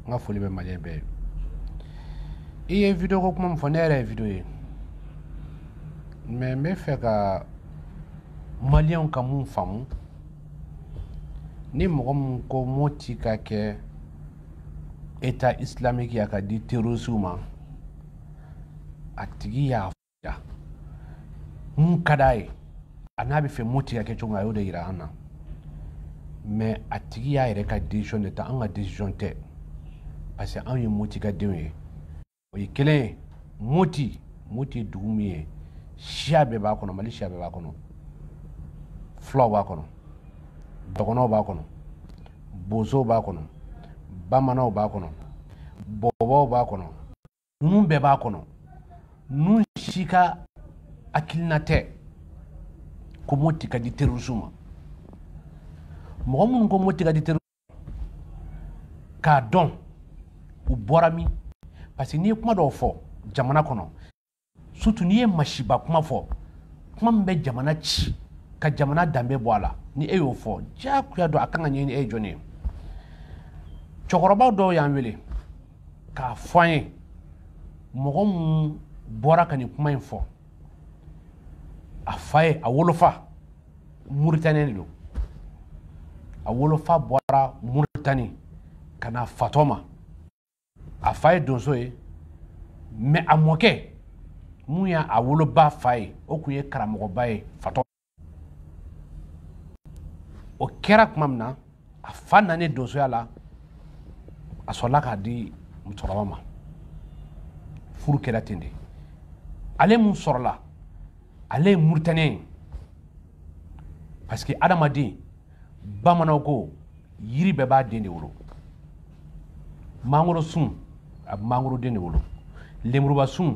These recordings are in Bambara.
n ka foli bɛ maliyɛn bɛɛ ye i ye video ko kuma min fɔ ne yɛrɛ ye video ye mɛ n bɛ fɛ ka maliyɛnw ka mun faamu ni mɔgɔ min ko moti ka kɛ état islamique ye a ka di terrorisiw ma a tigi y'a ya mun ka d'a ye an'a bɛ fɛ moti ka kɛ cogo min a y'o de yira an na mɛ a tigi y'a yɛrɛ ka decision de ta an ka decision tɛ parce que anw ye moti ka denw ye o ye kelen ye moti moti ye dugu min ye siya bɛɛ b'a kɔnɔ mali siya bɛɛ b'a kɔnɔ fulaw b'a kɔnɔ dɔgɔnɔw b'a kɔnɔ bozow b'a kɔnɔ bamananw b'a kɔnɔ bɔbɔw b'a kɔnɔ ninnu bɛɛ b'a kɔnɔ ninnu si ka hakilina tɛ ko moti ka di terrorisme ma mɔgɔ minnu ko moti ka di terrorisme k'a dɔn u bɔra min parce que n'i ye kuma dɔw fɔ jamana kɔnɔ surtout n'i ye masiba kuma fɔ kuma min bɛ jamana ci ka jamana danbe bɔ a la ni e y'o fɔ diyagoya don a kan ka ɲɛɲini e ye jɔni ye cɛkɔrɔbaw dɔw y'an wele k'a fɔ an ye mɔgɔ min bɔra ka nin kuma in fɔ a fa ye a wolofa muritani de don a wolofa bɔra muritani ka na fatɔma a fa ye donso ye mɛ a mɔkɛ mun ye a woloba fa ye o tun ye karamɔgɔba ye fatɔ o kɛra tuma min na a fa nani donsoya la a sɔrɔla k'a di musokɔrɔba ma furu kɛra ten de ale mun sɔrɔla ale ye muritaniyɛn ye parce que adamaden bamananw ko yiri bɛɛ b'a den de wolo mangoro sun a bɛ mangoroden de wolo lemuruba sun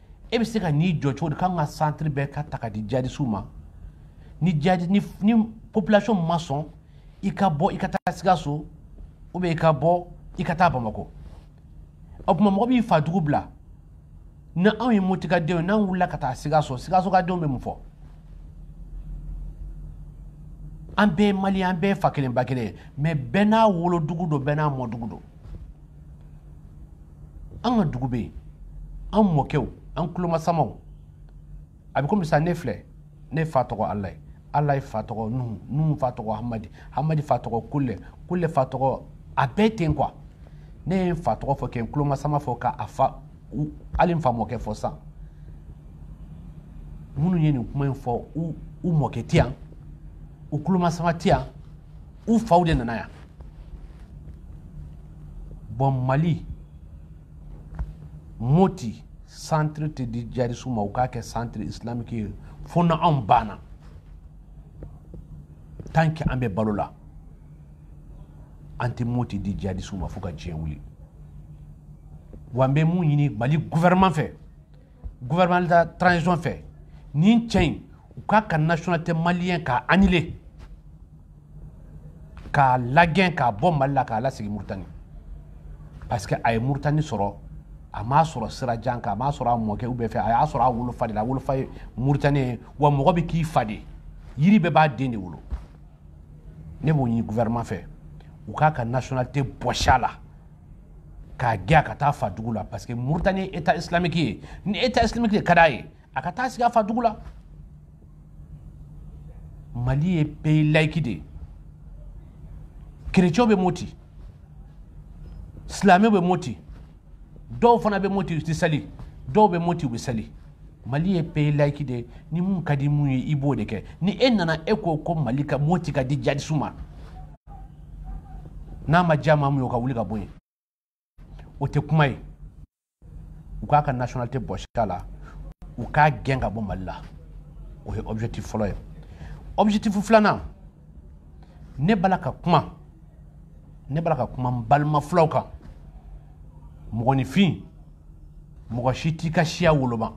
e bɛ se ka n'i jɔ cogo di k'an ka santiri bɛɛ ka ta ka di jihadisiw ma ni jadi ni ni population ma sɔn i ka bɔ i ka taa sikaso ou bien i ka bɔ i ka taa bamakɔ o tuma mɔgɔ b'i fa dugu bila ni anw ye moti ka denw ye n'an wulila ka taa sikaso sikaso ka denw bɛ mun fɔ an bɛɛ ye maliyɛn an bɛɛ ye fa kelen ba kelen ye mɛ bɛɛ n'a wolodugu don bɛɛ n'a mɔdugu don an ka dugu bɛ yen an mɔkɛw an tulomasamaw a bɛ komi sa ne filɛ ne fa tɔgɔ alayi alayi fa tɔgɔ nuhu nuhu fa tɔgɔ hamadi hamadi fa tɔgɔ kule kule fa tɔgɔ a bɛɛ ten kuwa ne ye n fa tɔgɔ fɔ kɛ n tulomasama fɔ ka a fa hali n fa mɔkɛ fɔ sa minnu ye nin kuma in fɔ u mɔkɛ tɛ yan u tulomasama tɛ yan u faw de nana yan bon mali moti centre tɛ di jadisiw ma u k'a kɛ centre islamique ye fo na anw banna tant que an bɛ balo la an tɛ moti di jihadisiw ma fo ka diɲɛ wuli wa n bɛ mun ɲini mali gouvernement fɛ gouvernement de transition fɛ nin cɛ in u k'a ka nationalité maliyɛn k'a annuler k'a lagɛn k'a bɔ mali la k'a lasigi muritani parce que a ye muritani sɔrɔ a m'a sɔrɔ sira jan kan a m'a sɔrɔ a mɔkɛ u bɛɛ fɛ a y'a sɔrɔ a wolofa de la a wolofa ye muritani ye wa mɔgɔ bɛ k'i fa de yiri bɛɛ b'a den de wolo ne b'o ɲini gouvernement fɛ u k'a ka nationalité bɔsi a la k'a gɛn a ka taa fa dugu la parce que Mauritanie ye état islamique ye ni état islamique de ka d'a ye a ka taa sigi a fa dugu la Mali ye pays laïque de ye chrétiens bɛ moti silamɛw bɛ moti dɔw fana bɛ moti u tɛ sali dɔw bɛ moti u bɛ sali mali ye pays laïque de ye ni mun ka di mun ye i b'o de kɛ ni e nana e ko ko mali ka moti ka di jadisiw ma n'a ma diya maa mun ye o ka wuli ka bɔ yen o tɛ kuma ye u k'a ka nationalité bɔsi a la u k'a gɛn ka bɔ mali la o ye objectif fɔlɔ ye objectif filanan ne b'a la ka kuma ne b'a la ka kuma n balima fulaw kan mɔgɔninfin mɔgɔ si t'i ka siya woloma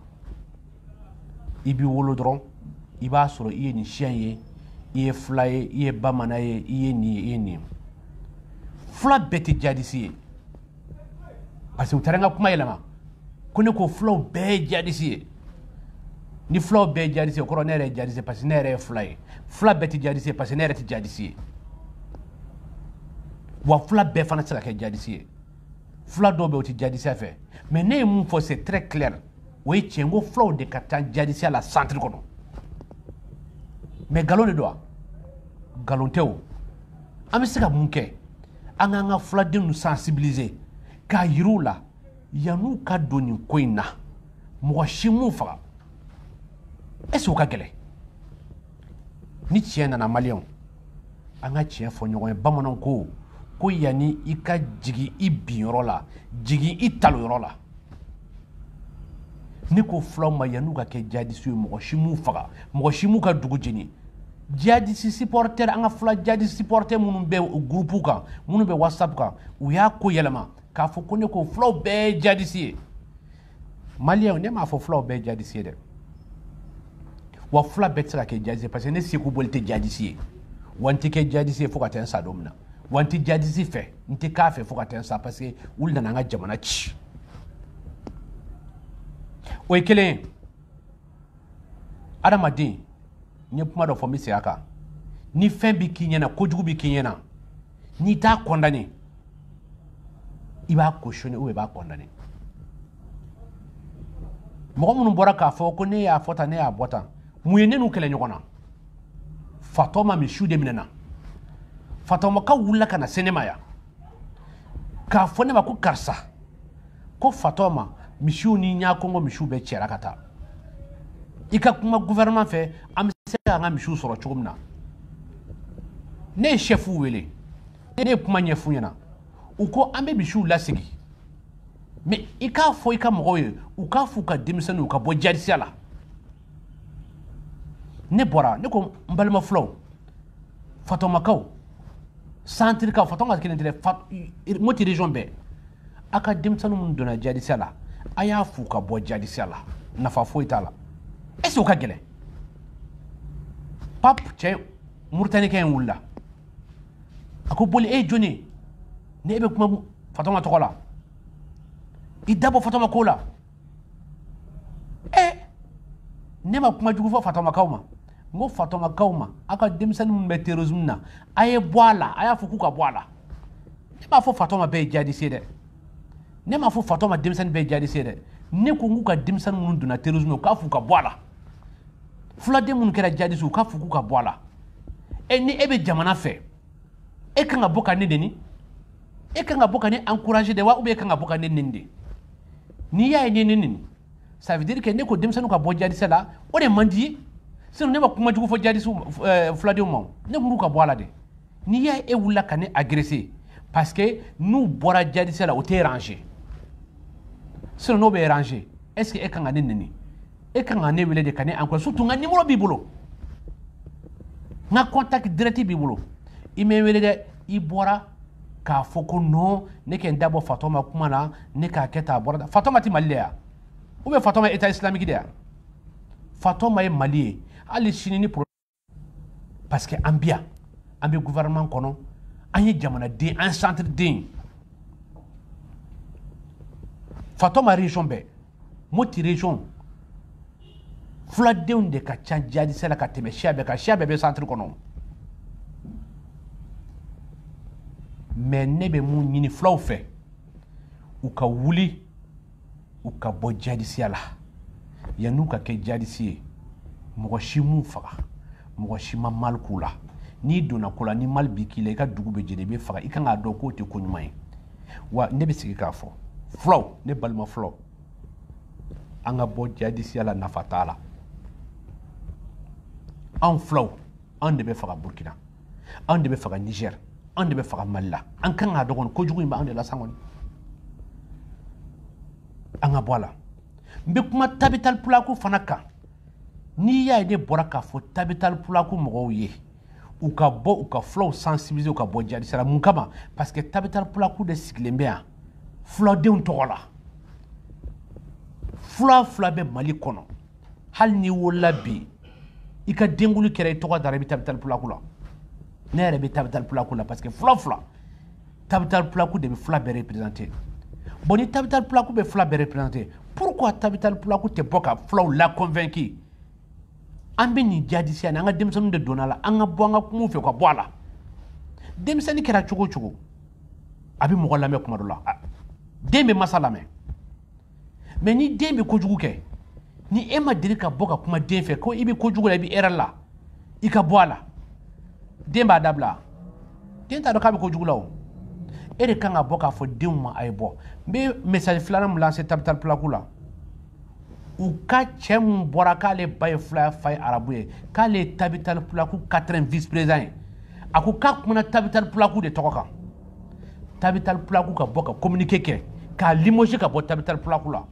i bɛ wolo dɔrɔn i b'a sɔrɔ i ye nin siya ye i ye fula ye i ye bamanan ye i ye nin ye i ye nin ye fula bɛɛ tɛ jadisi ye parce que u taara n ka kuma yɛlɛma ko ne ko fulaw bɛɛ ye jadisi ye ni fulaw bɛɛ ye jadisi ye o kɔrɔ ne yɛrɛ ye jadisi ye parce que ne yɛrɛ ye fula ye fula bɛɛ tɛ jadisi ye parce que ne yɛrɛ tɛ jadisi ye wa fula bɛɛ fana tɛ se ka kɛ jadisi ye fula dɔw bɛ u tɛ jadisiya fɛ mais ne ye mun fɔ c'est très clair o ye tiɲɛ ko fulaw de ka ca jadisiya la centre kɔnɔ mais nkalon de don wa nkalon tɛ o an bɛ se ka mun kɛ an k'an ka fuladenw sensibiliser k'a yir'u la yan'u ka don nin ko in na mɔgɔ si m'u faga est ce que o ka gɛlɛn ni tiɲɛ nana maliyɛnw an ka tiɲɛ fɔ ɲɔgɔn ye bamananw ko ko yanni i ka jigin i binyɔrɔ la jigin i talonyɔrɔ la ne ko fulaw ma yan'u ka kɛ jihadisi ye mɔgɔ si m'u faga mɔgɔ si m'u ka dugu jeni jihadisi supporter an ka fula jihadisi supporter minnu bɛ groupe kan minnu bɛ whatsapp kan u y'a ko yɛlɛma k'a fɔ ko ne ko fulaw bɛɛ ye jihadisi ye maliyɛnw ne m'a fɔ fulaw bɛɛ jadisi ye dɛ wa fula bɛɛ tɛ se ka kɛ jadisi ye parce que ne seko boli tɛ jadisi ye wa n tɛ kɛ jadisi ye fo ka taa n sa don min na wa n tɛ jadisi fɛ n tɛ k'a fɛ fo ka taa n sa parce que olu nana an ka jamana ci o ye kelen ye adamaden n ye kuma dɔ fɔ n bɛ segin a kan ni fɛn bɛ k'i ɲɛna kojugu bɛ k'i ɲɛna n'i t'a condamné i b'a cautionné ou bien i b'a condamné mɔgɔ minnu bɔra k'a fɔ ko ne y'a fɔ tan ne y'a bɔ tan mun ye ne n'u kɛlɛ ɲɔgɔn na fatɔma misiw de minɛna fatɔmakaw wulila ka na se ne ma yan k'a fɔ ne ma ko karisa ko fatɔma misiw ni ɲakongo misiw bɛɛ cɛra ka taa i ka kuma gouvernement fɛ an bɛ se k'an ka misiw sɔrɔ cogo min na ne ye chɛfuw wele ne ye kuma ɲɛf'u ɲɛna u ko an bɛ misiw lasegin mais i k'a fɔ i ka mɔgɔw ye u k'a f'u ka denmisɛnninw ka bɔ jadisiya la ne bɔra ne ko n balima fulaw fatɔmakaw santirikaw fatɔma kelen tɛ dɛ moti région bɛɛ a ka denmisɛnnin minnu donna jadisiya la a y'a f'u ka bɔ jadisiya la nafa foyi t'a la est ce que o ka gɛlɛn pape cɛ muritanika in wulila a ko boli e ye jɔni ye ni e bɛ kuma fatɔma tɔgɔ la i da bɔ fatɔma ko la ɛ ne ma kuma jugu fɔ fatɔmakaw ma n ko fatɔmakaw ma aw ka denmisɛnnin minnu bɛ terrorisme na a ye bɔ a la a y'a fɔ k'u ka bɔ a la ne m'a fɔ fatɔma bɛɛ ye jadisi ye dɛ ne m'a fɔ fatɔma denmisɛnnin bɛɛ ye jadisi ye dɛ ne ko n k'u ka denmisɛnnin minnu donna terrorisme na u k'a fɔ u ka bɔ a la fuladen minnu kɛra jadisi u k'a fɔ k'u ka bɔ a la e ni e bɛ jamana fɛ e kan ka bɔ ka ne neni e kan ka bɔ ka ne encourager de wa ou bien e kan ka bɔ ka ne neni de n'i y'a ye ne ne neni ça veut dire que ne ko denmisɛnninw ka bɔ jadisiya la o de man d'i ye sinon ne ma kuma jugu fɔ jadisiw eh, fuladenw ma ne ko k'u ka bɔ a la dɛ n'i y'a ye e wulila ka ne agresser parce que n'u bɔra jadisiya la o t'e arranger sinon n'o b'e arranger est ce que e kan ka ne neni e kan ka ne wele de ka ne encourager surtout n ka numéro b'i bolo n ka contact direct b'i bolo i ma n wele dɛ i bɔra k'a fɔ ko non ne ka n da bɔ fatɔma kuma na ne k'a kɛ tan a bɔra fatɔma tɛ mali de ya ou bien fatɔma ye état islamique de ya fatɔma ye mali ye hali sini ni parce que an bɛ yan an bɛ gouvernement kɔnɔ an ye jamanaden an ye centre den fatɔma région bɛɛ moti région fuladenw de ka ca jadisiya la ka tɛmɛ siya bɛɛ kan siya bɛɛ bɛ centre kɔnɔ mais ne bɛ mun ɲini fulaw fɛ u ka wuli u ka bɔ jadisiya la yan'u ka kɛ jadisi ye mɔgɔ si m'u faga mɔgɔ si ma mal k'u la n'i donna ko la ni mal bi k'i la i ka dugu bɛ jeni i bɛ faga i kan k'a dɔn k'o tɛ ko ɲuman ye wa ne bɛ segin k'a fɔ fulaw ne balima fulaw an ka bɔ jadisiya la nafa t'a la anw fulaw anw de bɛ faga burkina anw de bɛ faga niger anw de bɛ faga mali la an kan k'a dɔn kojugu in bɛ anw de la san kɔni an ka bɔ a la n bɛ kuma tabitali pulaku fana kan n'i y'a ye ne bɔra k'a fɔ tabitali pulaku mɔgɔw ye u ka bɔ u ka fulaw sensibiliser u ka bɔ jadisiya la mun kama parce que tabitali pulaku de sigilen bɛ yan fuladenw tɔgɔ la fula o fula bɛ mali kɔnɔ hali n'i wolola bi i ka denkuli kɛra i tɔgɔ dara i bɛ tabitali pulaku la ne yɛrɛ bɛ tabitali pulaku la parce que fula fula tabitali pulaku de bɛ fula bɛɛ représenter bon ni tabitali pulaku bɛ fula bɛɛ représenter pourquoi tabitali pulaku tɛ bɔ ka fulaw la convaincu an bɛ nin jadisiya ni an ka denmisɛnninw de donna la an ka bɔ an ka kuma u fɛ ka bɔ a la denmisɛnnin kɛra cogo o cogo a bɛ mɔgɔ lamɛn kuma dɔ la den bɛ masa lamɛn mais ni den bɛ kojugu kɛ ni e ma deli ka bɔ ka kuma den fɛ ko i bɛ kojugu la i bɛ erreur la i ka bɔ a la den b'a dabila den t'a dɔn k'a bɛ kojugu la o e de kan ka bɔ k'a fɔ denw ma a ye bɔ n bɛ message filanan min lancer tabitali pulaku la u ka cɛ min bɔra k'ale ba ye fula fa ye arabu ye k'ale ye tabitali pulaku quatrième vice président ye a ko k'a kumana tabitali pulaku de tɔgɔ kan tabital pulaku ka bɔ ka communiqué kɛ k'a limoger ka bɔ tabital pulaku la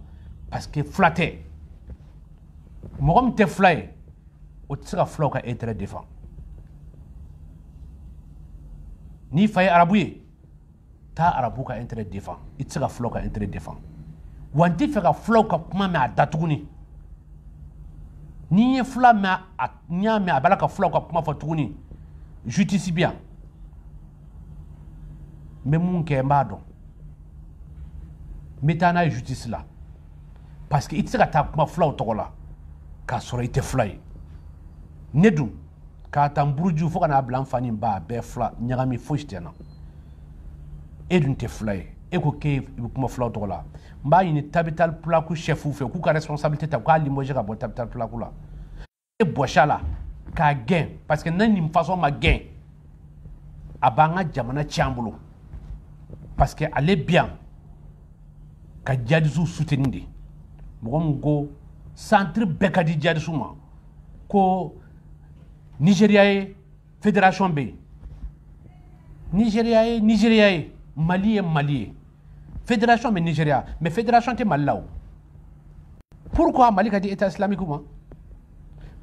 parce que fula tɛ mɔgɔ min tɛ fula ye o tɛ se ka fulaw ka intérêt défend n'i fa ye arabu ye taa arabu ka intérêt défend i tɛ se ka fulaw ka intérêt défend wa n tɛ fɛ ka fulaw ka kuma mɛn a da tuguni n'i ye fula mɛn a n y'a mɛn a b'a la ka fulaw ka kuma fɔ tuguni justice bɛ yan n bɛ mun kɛ n b'a dɔn n bɛ taa n'a ye justice la parce que i tɛ se ka taa kuma fulaw tɔgɔ la k'a sɔrɔ i tɛ fula ye ne dun k'a ta n buruju fo ka n'a bila n fa ni n ba a bɛɛ fula ɲagami fosi tɛ n na e dun tɛ fula ye e ko k'e bɛ kuma fulaw tɔgɔ la n b'a ɲini tabital pulaku chef fɛ k'u ka responsabilité ta u k'a limoger ka bɔ tabital pulaku la e bɔsi a la k'a gɛn parce que ni nin façon ma gɛn a b'an ka jamana tiɲɛ an bolo parce que ale bi yan ka jadisiw soutenir de mɔgɔ min ko centre bɛɛ ka di jadisiw ma ko nigeria ye federation bɛ yen nizeriya ye nizeriya ye mali ye mali ye federation bɛ nizeriya mais federation tɛ mali la o pourquoi mali ka di état islamique ma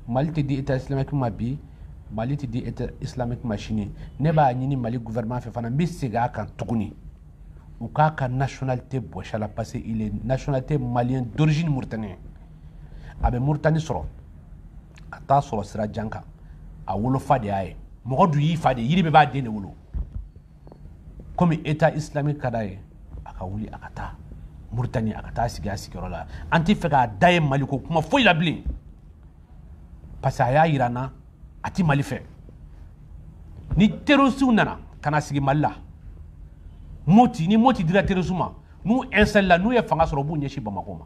mali tɛ di état islamique ma bi mali tɛ di état islamique ma sini ne b'a ɲini mali gouvernement fɛ fana n bɛ segin a kan tuguni u k'a ka nationalité bɔsi a la parce que il est nationalité malien d'origine mauritanien a bɛ mauritanie sɔrɔ a t'a sɔrɔ sira jan kan a wolofa de y'a ye mɔgɔ dun y'i fa de yiri bɛɛ b'a den de wolo komi état islamique ka d'a ye a ka wuli a ka taa muritani a ka taa sigi a sigiyɔrɔ la an t'a fɛ k'a da ye mali ko kuma foyi la bilen parce que a y'a yira n na a tɛ mali fɛ ni terrorisiw nana ka na sigi mali la ni moti dira terrorisiw ma n'u installé la n'u ye fanga sɔrɔ u b'u ɲɛsin bamakɔ ma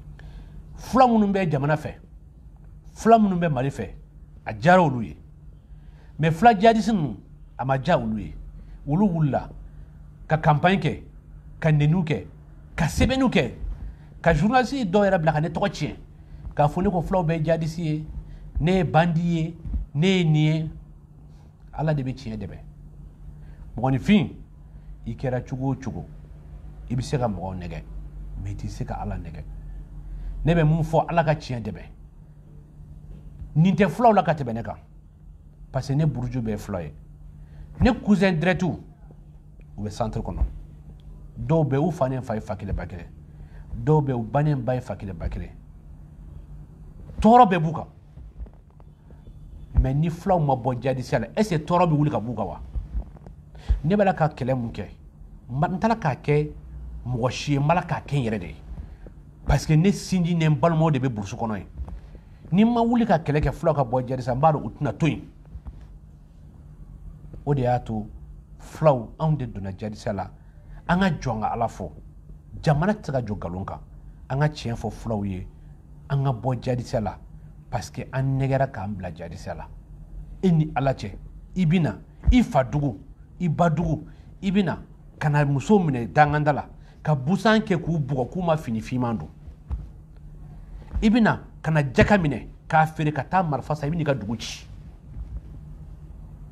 fula minnu bɛ jamana fɛ fula minnu bɛ mali fɛ a diyara olu ye mais fula jihadisi ninnu a ma diya olu ye olu wulila ka kanpaɲi kɛ ka neniw kɛ ka sɛbɛnniw kɛ ka journaliste dɔw yɛrɛ bila ka ne tɔgɔ tiɲɛ k'a fɔ ne ko fulaw bɛɛ jihadisi ye ne ye bandi ye ne ye nin ye ala de bɛ tiɲɛ dɛmɛ mɔgɔninfin i kɛra cogo o cogo i bɛ se ka mɔgɔw nɛgɛ mais i tɛ se ka ala nɛgɛ ne bɛ mun fɔ ala ka tiɲɛ dɛmɛ nin tɛ fulaw la ka tɛmɛ ne kan parce que ne buruju bɛɛ fula ye ne cousin dirɛtiw u bɛ centre kɔnɔ dɔw bɛ u fa ni n fa ye fa kelen ba kelen dɔw bɛ u ba ni n ba ye fa kelen ba kelen tɔɔrɔ bɛɛ b'u kan mais ni fulaw ma bɔ jadisiya la est-ce que tɔɔrɔ bɛ wuli ka b'u kan wa ne b'a la ka kɛlɛ mun kɛ n t'a la k'a kɛ mɔgɔ si ye n b'a la k'a kɛ n yɛrɛ de ye parce que ne sinji ni n balimaw de bɛ burusi kɔnɔ yen ni n ma wuli ka kɛlɛ kɛ fulaw ka bɔ jadisiya n b'a dɔn u tɛna to yen o de y'a to fulaw anw de donna jadisiya la an ka jɔ an ka ala fɔ jamana tɛ se ka jɔ nkalon kan an ka tiɲɛ fɔ fulaw ye an ka bɔ jadisiya la parce que an nɛgɛra k'an bila jadisiya la e ni ala cɛ i bɛ na i fa dugu i ba dugu i bɛ na ka na muso minɛ danganda la ka busan kɛ k'u bugɔ k'u ma fini finman don i bɛ na ka na jaka minɛ k'a feere ka taa marifa san i bɛn'i ka dugu ci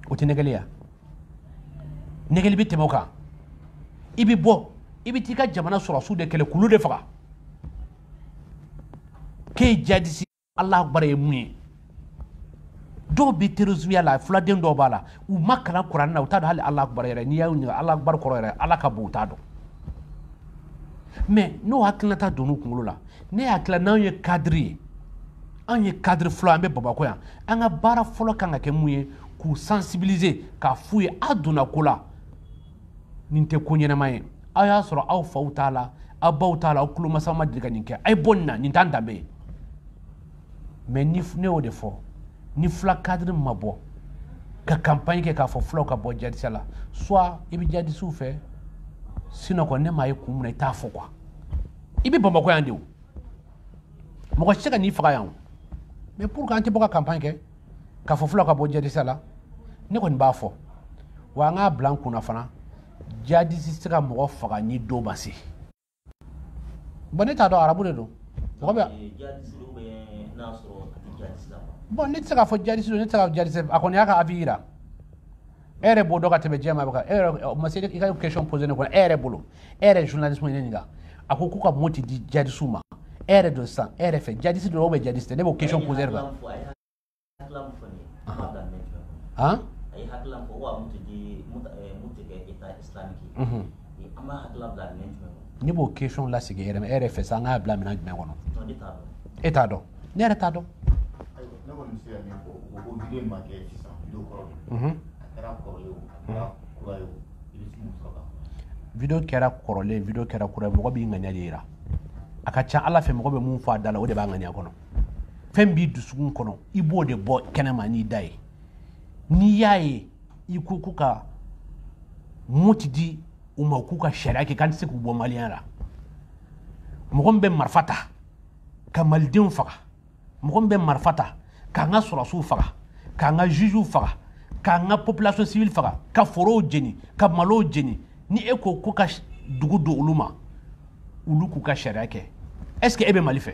o tɛ nɛgɛli ye wa nɛgɛli bɛ tɛmɛ o kan i bɛ bɔ i bɛ t'i ka jamana sɔrɔsiw de kɛlɛ k'olu de faga k'e jadisi ala akbar ye mun ye dɔw bɛ terrorismiya la fuladen dɔw b'a la u ma kalan kuranɛ na u t'a dɔn hali ala akbar yɛrɛ n'i y'a ɲininka ala akbar kɔrɔ yɛrɛ ala ka bon u t'a dɔn mais n'o hakilinata donn'u kunkolo la ne hakili la n'anw ye cadre ye anw ye cadre fula an bɛ bamakɔ yan an ka baara fɔlɔ kan ka kɛ mun ye k'u sensibiliser k'a f'u ye a donna ko la nin tɛ ko ɲɛnama ye aw y'a sɔrɔ aw faw t'a la aw baw t'a la aw tulomasaw ma deli ka nin kɛ a ye bɔ nin na nin t'an danbe ye mais ni ne y'o de fɔ ni fula cadre ma bɔ ka campagne kɛ k'a fɔ fulaw ka bɔ jadisiya la soit i bɛ jadisiw fɛ sinon kɔni ne m'a ye kun min na i t'a fɔ quoi i bɛ bamakɔ yan de o mɔgɔ si tɛ ka n'i faga yan o mais pour que an tɛ bɔ ka campagne kɛ k'a fɔ fulaw ka bɔ jadisiya la ne kɔni b'a fɔ wa an k'a bila an kunna fana jadisi tɛ se ka mɔgɔ faga ni don ma se bon ne t'a dɔn arabu de don mɔgɔ bɛ bon ne tɛ se k'a fɔ jadisi don ne tɛ se ka jadisi a kɔni y'a ka avis yira e yɛrɛ b'o dɔn ka tɛmɛ diɲɛ maa bɛɛ kan e yɛrɛ ma se i ka question posé ne kɔnɔ e yɛrɛ bolo e yɛrɛ journaliste ye ne ɲininka a ko k'u ka moti di jadisiw ma e yɛrɛ dun sisan e yɛrɛ fɛ jadisi don ou bien jadisi tɛ ne b'o question posé de kan han Ne b'o question lasegin e yɛrɛ fɛ sisan an k'a bila minɛn jumɛn kɔnɔ e t'a dɔn ne yɛrɛ t'a dɔn vidéo kɛra kɔrɔlen vidéo kɛra kura ye mɔgɔ b'i ŋaniya de yira a ka ca ala fɛ mɔgɔ bɛ min fɔ a da la o de b'a ŋaniya kɔnɔ fɛn b'i dusukun kɔnɔ i b'o de bɔ kɛnɛ ma n'i da ye n'i y'a ye i ko ko ka moti di u ma k'u ka sariya kɛ k'an tɛ se k'u bɔ maliyɛnya la mɔgɔ min bɛ marifa ta ka malidenw faga mɔgɔ min bɛ marifa ta k'an ka sɔrɔsiw faga k'an ka jugew faga k'an ka population civile faga ka forow jeni ka malow jeni ni e ko ko ka dugu di olu ma olu k'u ka sariya kɛ est ce que e bɛ mali fɛ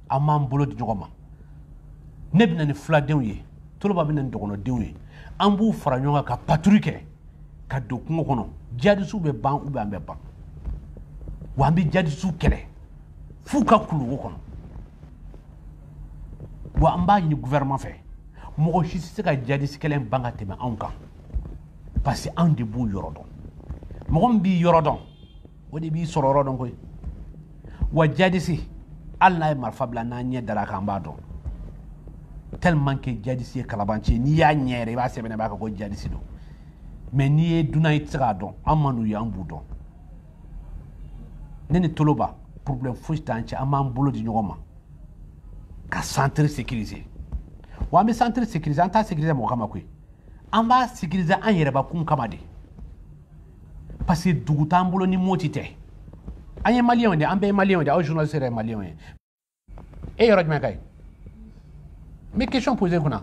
an b'an bolo di ɲɔgɔn ma ne bɛ na ni fuladenw ye toloba bɛ na ni dɔgɔnɔdenw ye an b'u fara ɲɔgɔn kan ka patrouille kɛ ka don kungo kɔnɔ jadisiw bɛ ban ou bien an bɛ ban wa an bɛ jadisiw kɛlɛ f'u ka kuluwo kɔnɔ wa an b'a ɲini gouvernement fɛ mɔgɔ si tɛ se ka jadisi kɛlɛ ban ka tɛmɛ anw kan parce que anw de b'u yɔrɔ dɔn mɔgɔ min b'i yɔrɔ dɔn o de b'i sɔrɔ yɔrɔ dɔn koyi wa jadisi hali n'a ye marifa bila n'an ɲɛ dar'a kan an b'a dɔn tellement que jadisi ye kalabanci ye n'i y'a ɲɛ yɛrɛ i b'a sɛbɛnnen b'a kan ko jadisi don mais n'i ye dunan i tɛ se k'a dɔn an man'u ye an b'u dɔn ne ni toloba problème foyi t'an cɛ an b'an bolo di ɲɔgɔn ma ka centre sécuriser wa an bɛ centre sécuriser an t'a sécuriser mɔgɔ kama koyi an b'a sécuriser an yɛrɛbakun kama de parce que dugu t'an bolo ni moti tɛ an ye maliyɛnw de an bɛɛ ye maliyɛnw de aw journaliste yɛrɛ ye maliyɛnw ye e yɔrɔ jumɛn ka ye n bɛ question poser kunna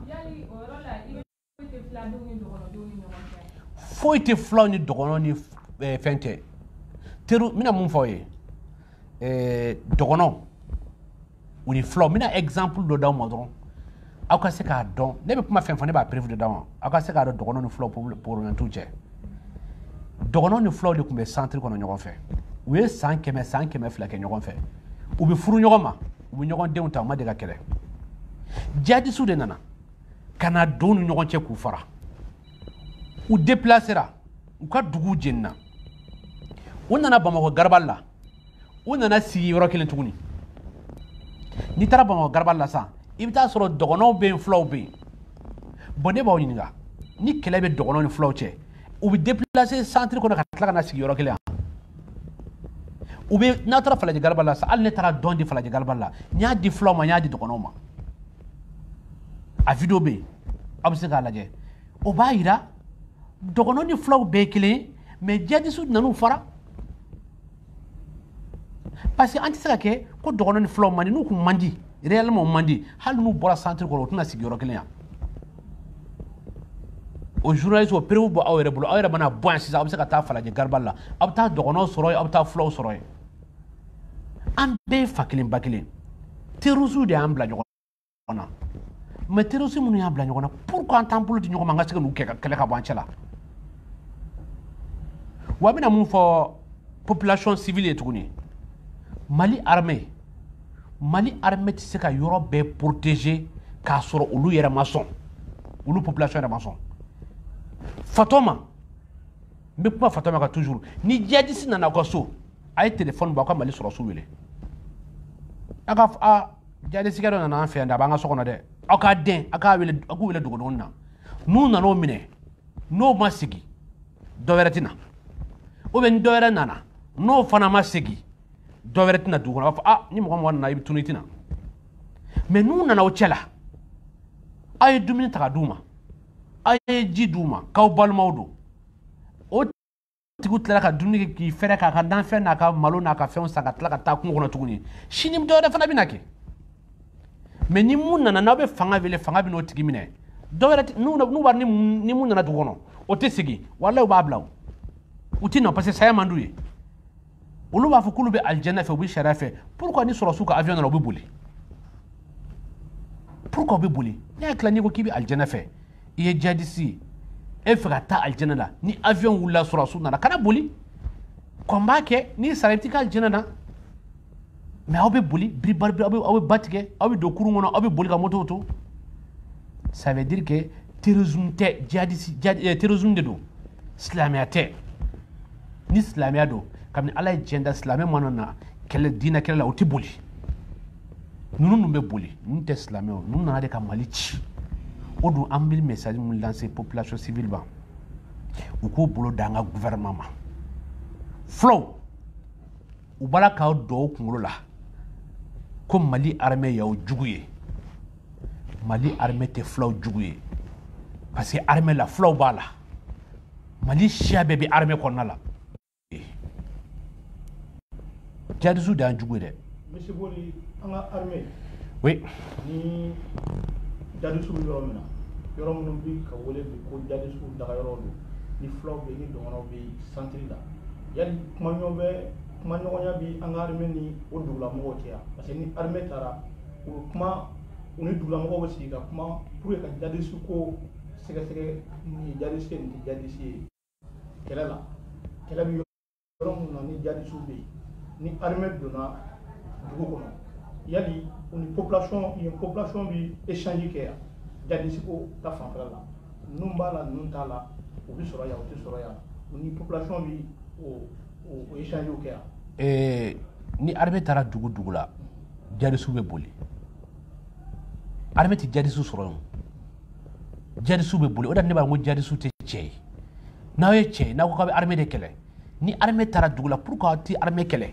foyi tɛ fulaw ni dɔgɔnɔw ni eh, fɛn tɛ teri n bɛna mun fɔ aw ye eh, dɔgɔnɔw u ni fulaw n bɛna exemple dɔ d'aw ma dɔrɔn aw ka se k'a dɔn ne bɛ kuma fɛn fɛn ne b'a preuve de d'aw ma aw ka se k'a dɔn dɔgɔnɔw ni fulaw problème t'u cɛ dɔgɔnɔw ni fulaw de tun bɛ centre kɔnɔ ɲɔgɔn fɛ u ye san kɛmɛ san kɛmɛ fila kɛ ɲɔgɔn fɛ u bɛ furu ɲɔgɔn ma u bɛ ɲɔgɔn denw ta u ma deli ka kɛlɛ jihadisiw de nana ka na don u ni ɲɔgɔn cɛ k'u fara u déplacera u ka duguw jenina u nana bamakɔ garabali la u nana sigi yɔrɔ kelen tuguni n'i taara bamakɔ garaba la sisan i bɛ taa sɔrɔ dɔgɔnɔw bɛ yen fulaw bɛ yen bon ne b'aw ɲininka ni kɛlɛ bɛ dɔgɔnɔw ni fulaw cɛ u bɛ déplacer centre kɔnɔ ka tila ka na sigi yɔrɔ kelen yan ou bien n'a taara falajɛ garaba la sisan hali ne taara don di falajɛ garaba la n y'a di fulaw ma n y'a di dɔgɔnɔw ma a video bɛ yen aw bɛ se k'a lajɛ o b'a yira dɔgɔnɔ ni fulaw bɛɛ ye kelen ye mais jihadisiw nan'u fara parce que an tɛ se ka kɛ ko dɔgɔnɔ ni fulaw man di n'u kun man di réellement man di hali n'u bɔra centre kɔnɔ u tɛna sigi yɔrɔ kelen yan o journaliste o preuve bɛ aw yɛrɛ bolo aw yɛrɛ mana bɔ yan sisan aw bɛ se ka taa falajɛ garaba la aw bɛ taa dɔgɔnɔw sɔrɔ yen aw bɛ taa fulaw sɔrɔ yen an bɛɛ ye fa kelen ba kelen terrorisiw de y'an bila ɲɔgɔn ɲɔgɔn na mais terrorisi minnu y'an bila ɲɔgɔn na pourquoi an t'an bolo di ɲɔgɔn ma an ka se ka n'u kɛ ka kɛlɛ ka bɔ an cɛ la wa n bɛna mun fɔ population civile ye tuguni mali armée mali armée tɛ se ka yɔrɔ bɛɛ protéger k'a sɔrɔ olu yɛrɛ ma sɔn olu population yɛrɛ ma sɔn fatɔma n bɛ kuma fatɔma kan toujours ni jihadisi nana aw ka so a ye telefɔni bɔ aw ka mali sɔrɔdasiw wele a ka jadisikɛ dɔ nana an fɛ yan dɛ a b'an ka so kɔnɔ dɛ aw k'a dɛn a k'u wele dogodogonin na n'u nana o minɛ n'o ma segin dɔ wɛrɛ tɛ na ou bien ni dɔ wɛrɛ nana n'o fana ma segin dɔ wɛrɛ tɛ na dugu kɔnɔ a b'a fɔ ni mɔgɔ mɔgɔ nana i bɛ tunun i tɛ na mais n'u nana aw cɛ la aw ye dumuni ta ka d'u ma aw ye ji d'u ma k'aw balimaw don tigiw tilala ka dumuni kɛ k'i fɛrɛ k'a ka nafɛn n'a ka malo n'a ka fɛnw san ka tila ka taa kungo kɔnɔ tuguni sini dɔ wɛrɛ fana bɛna kɛ mais ni mun nana n'aw bɛ fanga wele fanga bɛ n'o tigi minɛ dɔ wɛrɛ n'u b'a ni mun nana dugu kɔnɔ o tɛ segin walayi u b'a bila o u tɛ nɔ parce que saya man d'u ye olu b'a fɔ k'olu bɛ alijɛnɛ fɛ u bɛ sariya fɛ pourquoi ni sɔrɔsiw ka avion nana u bɛ boli pourquoi u bɛ boli ne hakili la n'i ko k'i bɛ alijɛnɛ fɛ i ye jadisi ye e fɛ ka taa alijɛnɛ la ni avion wulila sɔrɔdasiw nana kana boli kɔn b'a kɛ n'i sara i bɛ t'i ka alijɛnɛ na mais aw bɛ boli biribari aw bɛ aw bɛ ba tigɛ aw bɛ don kurun kɔnɔ aw bɛ boli ka motow to ça veut dire que terrorisme tɛ jihadisi jihadi terrorisme de don silamɛya tɛ ni silamɛya don kabini ala ye diɲɛ da silamɛ mana na kɛlɛ diinɛ kɛlɛ la o tɛ boli ninnu dun bɛ boli ninnu tɛ silamɛw ninnu nana de ka mali ci o dun an bɛ message min lancer population civile ma u k'u bolo d'an ka gouvernement ma fulaw u b'a la k'a don aw kunkolo la ko mali armée y'aw jugu ye mali armée tɛ fulaw jugu ye parce que armée la fulaw b'a la mali siya bɛɛ bɛ armée kɔnɔna la jadisiw de y'an jugu ye dɛ Monsieur Boli, an ka armée oui ni jadisiw bɛ yɔrɔ min na yɔrɔ minnu bɛ ka wele bi ko jadisiw dagayɔrɔw don ni fulaw bɛ yen ni dɔgɔnɔw bɛ yen centre la yali kumaɲɔgɔn bɛ kumaɲɔgɔnya bɛ an ka armée ni o dugulamɔgɔw cɛ yan parce que ni armée taara u bɛ kuma u ni dugulamɔgɔw bɛ sigi ka kuma pour que ka jadisiko sɛgɛsɛgɛ nin ye jadisi ye nin tɛ jadisi ye kɛlɛ la kɛlɛ bɛ yɔrɔ minnu na ni jadisiw bɛ yen ni armée donna dugu kɔnɔ yali u ni population yen population bɛ échange kɛ yan jadisiko ta fanfɛla la ninnu b'a la ninnu t'a la u bɛ sɔrɔ yan u tɛ sɔrɔ yan u ni population bɛ o o échange kɛ yan. ni armée taara dugu dugu la jadisiw bɛ boli. armée tɛ jadisiw sɔrɔ yen jadisiw bɛ boli o de ne b'a fɔ ko jadisiw tɛ cɛ ye n'aw ye cɛ ye n'aw ko k'aw bɛ armée de kɛlɛ ni armée taara dugu la pourquoi aw tɛ armée kɛlɛ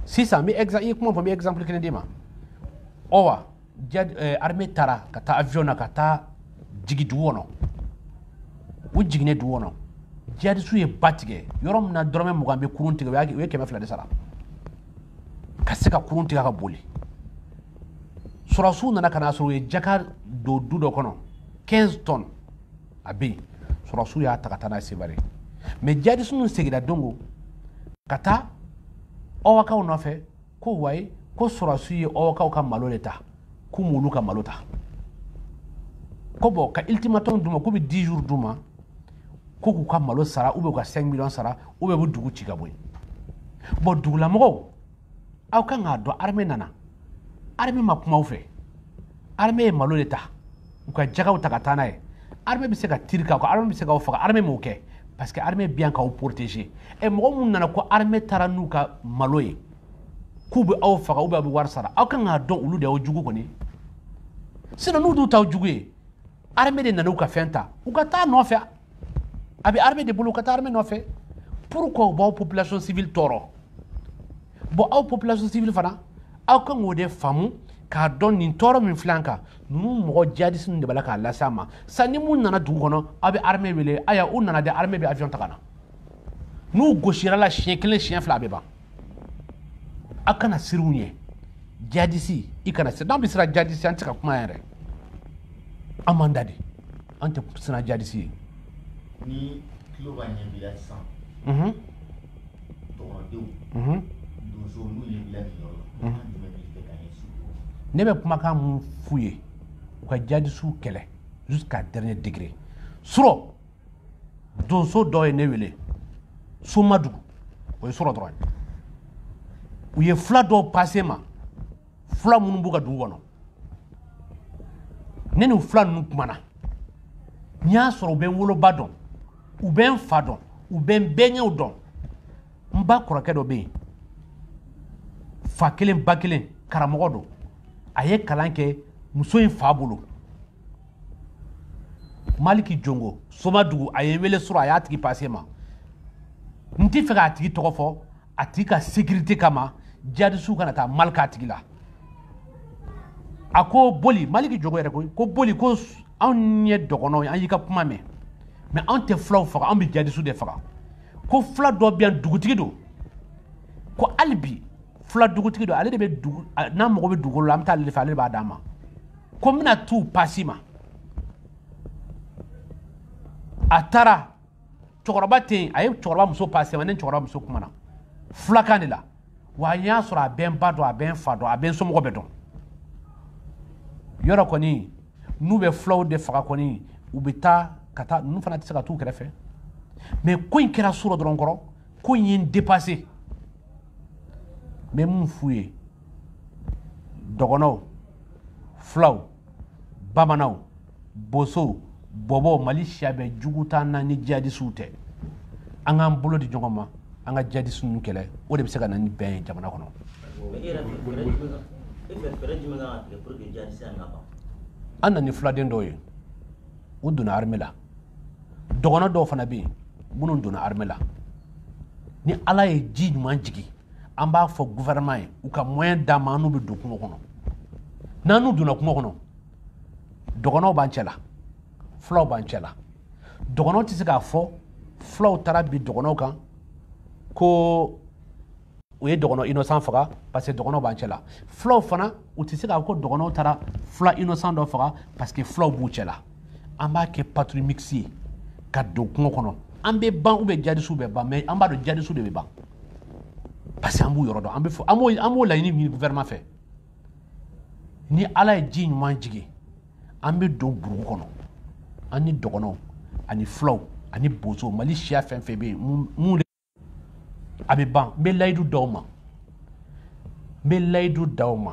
sisan n bɛ exemple i ye kuma fɔ n bɛ exemple kelen d'i ma ɔwa jadi eh, armée taara ka taa avion na ka taa jigin dugu kɔnɔ u jiginnen dugu kɔnɔ jadisiw ye ba tigɛ yɔrɔ min na dɔrɔmɛ mugan bɛ kurun tigɛ u y'a- u ye kɛmɛ fila de sara ka se ka kurun tigɛ ka boli sɔrɔsiw nana ka n'a sɔrɔ u ye jaka don du dɔ kɔnɔ 15 tonnes a bɛ yen sɔrɔsiw y'a ta ka taa n'a ye Sevare mais jadisi ninnu seginna dongo ka taa ɔwakaw nɔfɛ ko wayi ko sɔrɔsiw ye ɔwakaw ka malo de ta k'u m'olu ka malo ta ko bon ka ultimatum d'u ma k'u bɛ 10 jours d'u ma ko k'u ka malo sara ou bien u ka 5 millions sara ou bien u bɛ dugu ci ka bɔ yen bon dugulamɔgɔw aw kan k'a dɔn armée nana armée ma kuma aw fɛ armée ye malo de ta u ka jagaw ta ka taa n'a ye armée bɛ se ka tiri k'aw kan armée bɛ se k'aw faga armée m'o kɛ parce que armée bɛ yan k'aw protéger ɛ mɔgɔ minnu nana ko armée taara n'u ka malo ye k'u bɛ aw faga ou bien a bɛ wari sara aw kan k'a dɔn olu de y'aw jugu kɔni sinon n'u dun t'aw jugu ye armée de nana u ka fɛn ta u ka taa nɔfɛ a bɛ armée de bolo u ka taa armée nɔfɛ pourquoi u b'aw population civile tɔɔrɔ bon aw population civile fana aw kan k'o de faamu k'a dɔn nin tɔɔrɔ min filɛ an kan ninnu mɔgɔ jihadisi ninnu de b'a la k'a lase an ma sa ni mun nana dugu kɔnɔ aw bɛ armée wele aya u nana dɛ armée bɛ avion ta ka na n'u gosira la siɲɛ kelen siɲɛ fila a bɛ ban a kana siran u ɲɛ jadisi i kana siran n'an bɛ siran jadisi an tɛ se ka kuma yɛrɛ an man da de an tɛ siran jadisi ɲɛ ni tulo b'a ɲɛ bila sisan tɔgɔdenw donso n'u ye bila nin yɔrɔ la an jumɛn b'i fɛ ka ɲɛsin ne bɛ kumakan mun f'u ye u ka jadisiw kɛlɛ jusqu'à dernier degré surɔ donso dɔ ye ne wele somadugu o ye surɔ dɔrɔn ye u ye fula dɔw passé n ma fula minnu b'u ka dugu kɔnɔ ne ni fula ninnu kumana n y'a sɔrɔ u bɛ n woloba dɔn u bɛ n fa dɔn u bɛ n bɛnkɛw dɔn n ba kɔrɔkɛ dɔ bɛ yen fa kelen ba kelen karamɔgɔ don a ye kalan kɛ muso in fa bolo maliki jongo somadugu a ye n wele surɔ a y'a tigi passé n ma n tɛ fɛ k'a tigi tɔgɔ fɔ a tigi ka sécurité kama jadisiw kana taa mal k'a tigi la a ko boli maliki jongo yɛrɛ ko ko boli ko anw ye dɔgɔnɔw ye an y'i ka kuma mɛn mais anw tɛ fulaw faga anw bɛ jadisiw de faga ko fula dɔ bɛ yan dugutigi don ko hali bi fula dugutigi don ale de bɛ dugu n'an mago bɛ dugukolo la an bɛ taa ale de fɛ ale de b'a d'an ma ko n bɛna t'o pass'i ma a taara cɛkɔrɔba tɛ yen a ye cɛkɔrɔba muso passé n ma ne ni cɛkɔrɔba muso kumana fulakan de la wa n y'a sɔrɔ a bɛ n ba dɔn a bɛ n fa dɔn a bɛ n somɔgɔ bɛɛ dɔn yɔrɔ kɔni n'u bɛ fulaw de faga kɔni u bɛ taa ka taa ninnu fana tɛ se ka t'u kɛrɛfɛ mais ko in kɛra surɔ dɔrɔn kɔrɔ ko in ye n dépassé n bɛ mun f'u ye dɔgɔnɔw fulaw bamananw bosow bɔbɔw mali siya bɛɛ jugu t'an na ni jihadisiw tɛ an k'an bolo di ɲɔgɔn ma an ka jihadisi ninnu kɛlɛ o de bɛ se ka na ni bɛn ye jamana kɔnɔ an na ni fuladen dɔw ye u donna armée la dɔgɔnɔ dɔw fana bɛ yen minnu donna armée la ni ala ye ji ɲuman jigin an b'a fɔ gouvernement ye u ka moyen d'an ma an n'u bɛ don kungo kɔnɔ n'an n'u donna kungo kɔnɔ dɔgɔnɔw b'an cɛla fulaw b'an cɛla dɔgɔnɔw tɛ se k'a fɔ fulaw taara bin dɔgɔnɔw kan ko u ye dɔgɔnɔ innocent faga parce que dɔgɔnɔw b'an cɛla fulaw fana u tɛ se k'a fɔ ko dɔgɔnɔw taara fula innocent dɔ faga parce que fulaw b'u cɛla an b'a kɛ patrouille mixte ye ka don kungo kɔnɔ an bɛ ban ou bien jadisiw bɛ ban mais an b'a dɔn jadisiw de bɛ ban parce que an b'u yɔrɔ dɔn an bɛ fɔ an b'o an b'o laɲini ɲini gouvernement fɛ ni ala ye ji ɲuman jigin an bɛ don burugu kɔnɔ an ni dɔgɔnɔw ani fulaw ani bozow mali siya fɛn fɛn bɛ yen mun a bɛ ban n bɛ layidu d'aw ma n bɛ layidu d'aw ma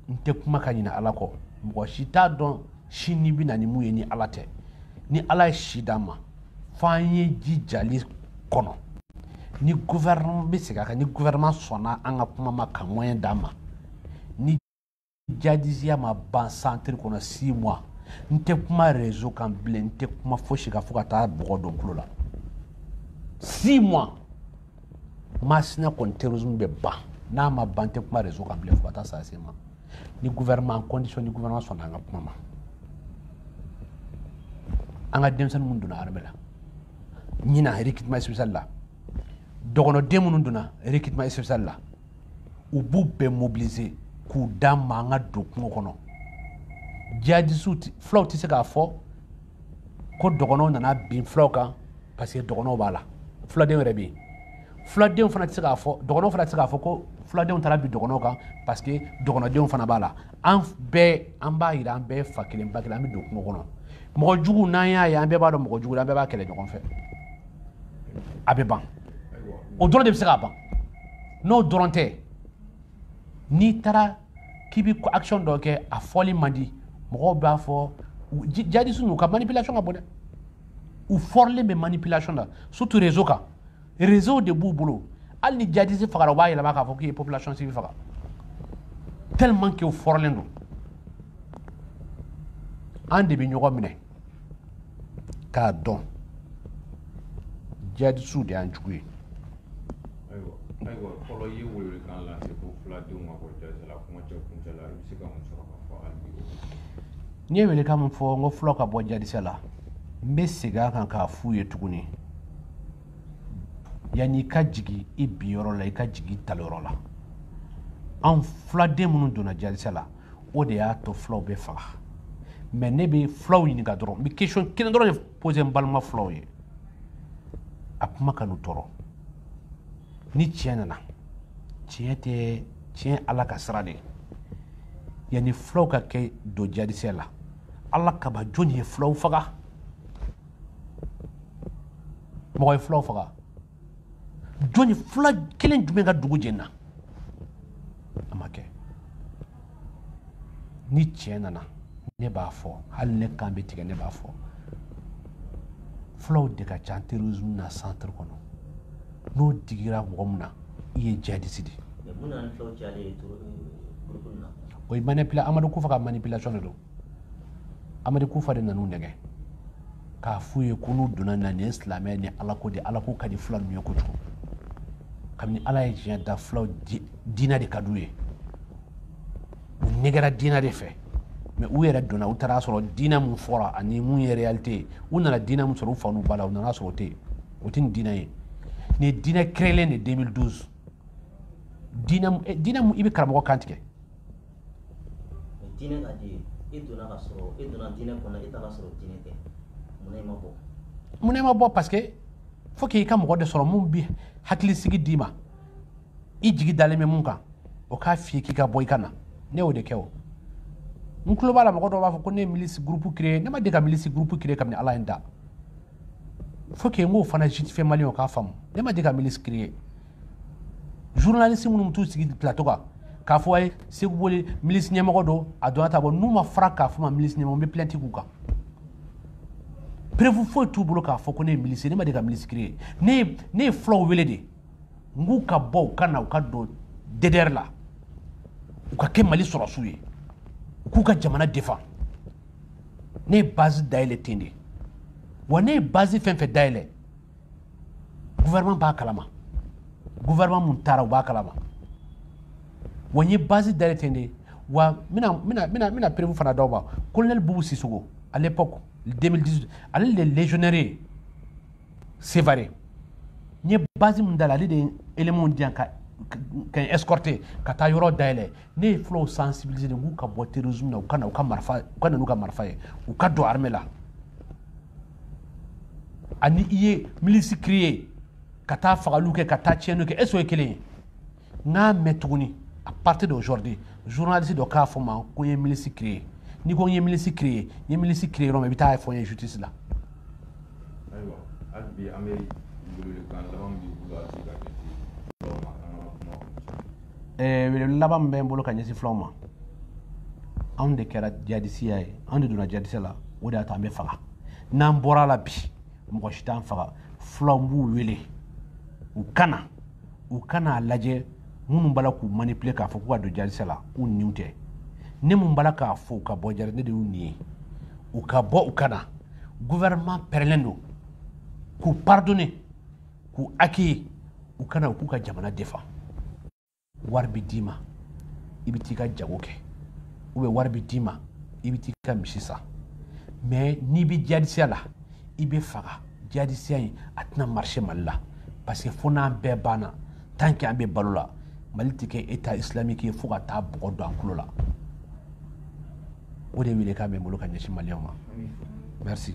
n tɛ kuma ka ɲinɛ ala kɔ mɔgɔ si t'a dɔn sini bɛ na ni mun ye ni ala tɛ ni ala ye si d'an ma f'an ye ji jali kɔnɔ ni gouvernement n bɛ segin a kan ni gouvernement sɔnna an ka kuma ma ka moyen d'an ma jadisiya ma ban centre kɔnɔ six mois n tɛ kuma réseau kan bilen n tɛ kuma fosi kan fo ka taa bɔgɔ don n tulo la six mois masina kɔni terrorisme bɛ ban n'a ma ban n tɛ kuma réseau kan bilen fo ka taa saa se n ma ni gouvernement condition ni gouvernement sɔnna an ka kuma ma an ka denmisɛnnin minnu donna armée la ɲinan recrutement spécial la dɔgɔnɔden minnu donna recrutement spécial la u b'u bɛɛ mobiliser k'u d'an ma an ka don kungo kɔnɔ jihadisiw fulaw tɛ se k'a fɔ ko dɔgɔnɔw nana bin fulaw kan parce que dɔgɔnɔw b'a la fuladenw yɛrɛ bɛ yen fuladenw fana tɛ se k'a fɔ dɔgɔnɔw fana tɛ se k'a fɔ ko fuladenw taara bin dɔgɔnɔw kan parce que dɔgɔnɔdenw fana b'a la an bɛɛ an b'a yira an bɛɛ fa kelen ba kelen an bɛ don kungo kɔnɔ mɔgɔ jugu n'an y'a ye an bɛɛ b'a dɔn mɔgɔ jugu la an bɛɛ b'a kɛlɛ ɲɔgɔn fɛ a bɛ ban o dɔrɔn de bɛ se k'a ban n'o dɔrɔn tɛ n'i taara k'i bɛ action dɔ kɛ a fɔli man di mɔgɔw b'a fɔ jadisi n'u ka manipulation ka bon dɛ u fɔrilen bɛ manipulation la surtout réseau kan réseau de b'u bolo hali ni jadisi fagara u b'a yɛlɛma k'a fɔ k'i ye population civile faga tellement que u fɔrilen don an de bɛ ɲɔgɔn minɛ k'a dɔn jihadisiw de y'an jugu ye ayiwa fɔlɔ i ye welewelekan lase ko fuladenw ma bɔ jadisɛ la kuma cɛ kuncɛ la i bɛ se ka mun sɔrɔ ka fɔ hali bi n ye welekan min fɔ n ko fulaw ka bɔ jadisɛ la n bɛ segin a kan k'a f'u ye tuguni yanni i ka jigin i binyɔrɔ la i ka jigin i talonyɔrɔ la anw fuladen minnu donna jadisɛ la o de y'a to fulaw bɛ faga mais ne bɛ fulaw ɲininka dɔrɔn n bɛ question kelen dɔrɔn de poser n balima fulaw ye a kuma kan'u tɔɔrɔ ni tiɲɛ nana tiɲɛ tɛ tiɲɛ ala ka sira de ye yanni fulaw ka kɛ don jihadisi la ala kama jɔni ye fulaw faga mɔgɔ ye fulaw faga jɔni fula kelen jumɛn ka dugu jenina a ma kɛ ni tiɲɛ nana ne b'a fɔ hali ne kan bɛ tigɛ ne b'a fɔ fulaw de ka ca terrorisme na centre kɔnɔ n'o digira mɔgɔ min na i ye jihadisi de ye o ye manipula amadu kufa ka manipulation de don amadu kufa de nan'u nɛgɛ k'a f'u ye ko n'u donna na nin ye silamɛ ni ala ko de ala ko ka di fula ninnu ye kojugu kabini ala ye diɲɛ da fulaw diinɛ de ka d'u ye u nɛgɛra diinɛ de fɛ mais u yɛrɛ donna u taara sɔrɔ diinɛ min fɔra ani mun ye réalité ye u nana diinɛ min sɔrɔ u fa n'u ba la u nana sɔrɔ o tɛ yen o tɛ nin diinɛ ye nin ye diinɛ créelen de 2012 diinɛ min i bɛ karamɔgɔ kan tigɛ diinɛ ka di e donna ka sɔrɔ e donna diinɛ kɔnɔ e taara sɔrɔ diinɛ tɛ munna e ma bɔ munna e ma bɔ parce que fo k'i ka mɔgɔ de sɔrɔ mun bi hakilisigi d'i ma i jigi dalen bɛ mun kan o k'a f'i ye k'i ka bɔ i ka na ne y'o de kɛ o n tulo b'a la mɔgɔ dɔw b'a fɔ ko ne ye milisi gurupu créer ne ma deli ka milisi gurupu créer kabini ala ye n da faut que n k'o fana justifier malienw k'a faamu ne ma deli ka milisi créer journaliste minnu bɛ t'u sigi plateau kan k'a fɔ a ye seku boli milisi ɲɛmɔgɔ don a donna ta bɔ n'u ma fara k'a fɔ n ma milisi ɲɛmɔgɔ n bɛ plainte k'u kan preuve foyi t'u bolo k'a fɔ ko ne ye milisi ne ma deli ka milisi créer ne ye ne ye fulaw wele de n k'u ka bɔ u ka na u ka don DDR la u ka kɛ mali sɔrɔsiw ye u k'u ka jamana défend ne ye base dayɛlɛ ten de wa ne ye base fɛn fɛn dayɛlɛ gouvernement b'a kalama gouvernement mun taara u b'a kalama wa n ye base dayɛlɛ ten de wa n bɛna n bɛna n bɛna n bɛna preuve fana d'aw ma colonel bubu sisoko à l'époque 2018 ale le légionnaire ye sévaré n ye base min dayɛlɛ ale de ye éléments di yan ka n escorter ka taa yɔrɔ dayɛlɛ ne ye fulaw sensibiliser de k'u ka bɔ terrorisme na u ka na u ka marifa u ka na n'u ka marifa ye u ka don armée la ani i ye milisi créer ka taa fagaliw kɛ ka taa tiɲɛniw kɛ est-ce o ye kelen ye n k'a mɛn tuguni à partir d'aujourd'hui journaliste dɔ k'a fɔ n ma ko n ye milisi créer n'i ko n ye milisi créer n ye milisi créer yɔrɔ min i bɛ t'a fɔ n ye justice la ayiwa hali bi an bɛ welewelekan laban min b'i bolo a bɛ se ka kɛ eh, wele laban min bɛ n bolo ka ɲɛsin fulaw ma anw de kɛra jadisiya ye anw de donna jadisiya la o de y'a to an bɛ faga n'an bɔr'a la bi mɔgɔ si t'an faga fulaw b'u wele u kana u kana a lajɛ minnu b'a la k'u manipule k'a fɔ k'u ka don jadisiya la u niw tɛ ne mun b'a la k'a fɔ u ka bɔ jari ne de y'u nin ye u ka bɔ u ka na gouvernement pɛrɛlen don k'u pardonner k'u accueillir u ka na u k'u ka jamana défend wari bɛ d'i ma i bɛ t'i ka jago kɛ ou bien wari bɛ d'i ma i bɛ t'i ka misi san mais n'i bɛ jadisiya la i bɛ faga jadisiya in a tɛna marcher mali la parce que fo n'an bɛɛ banna tant que an bɛ balo la mali tɛ kɛ état islamique ye fo ka taa bɔgɔ don an tulo la o de welekan bɛ n bolo ka ɲɛsin maliyɛnw ma merci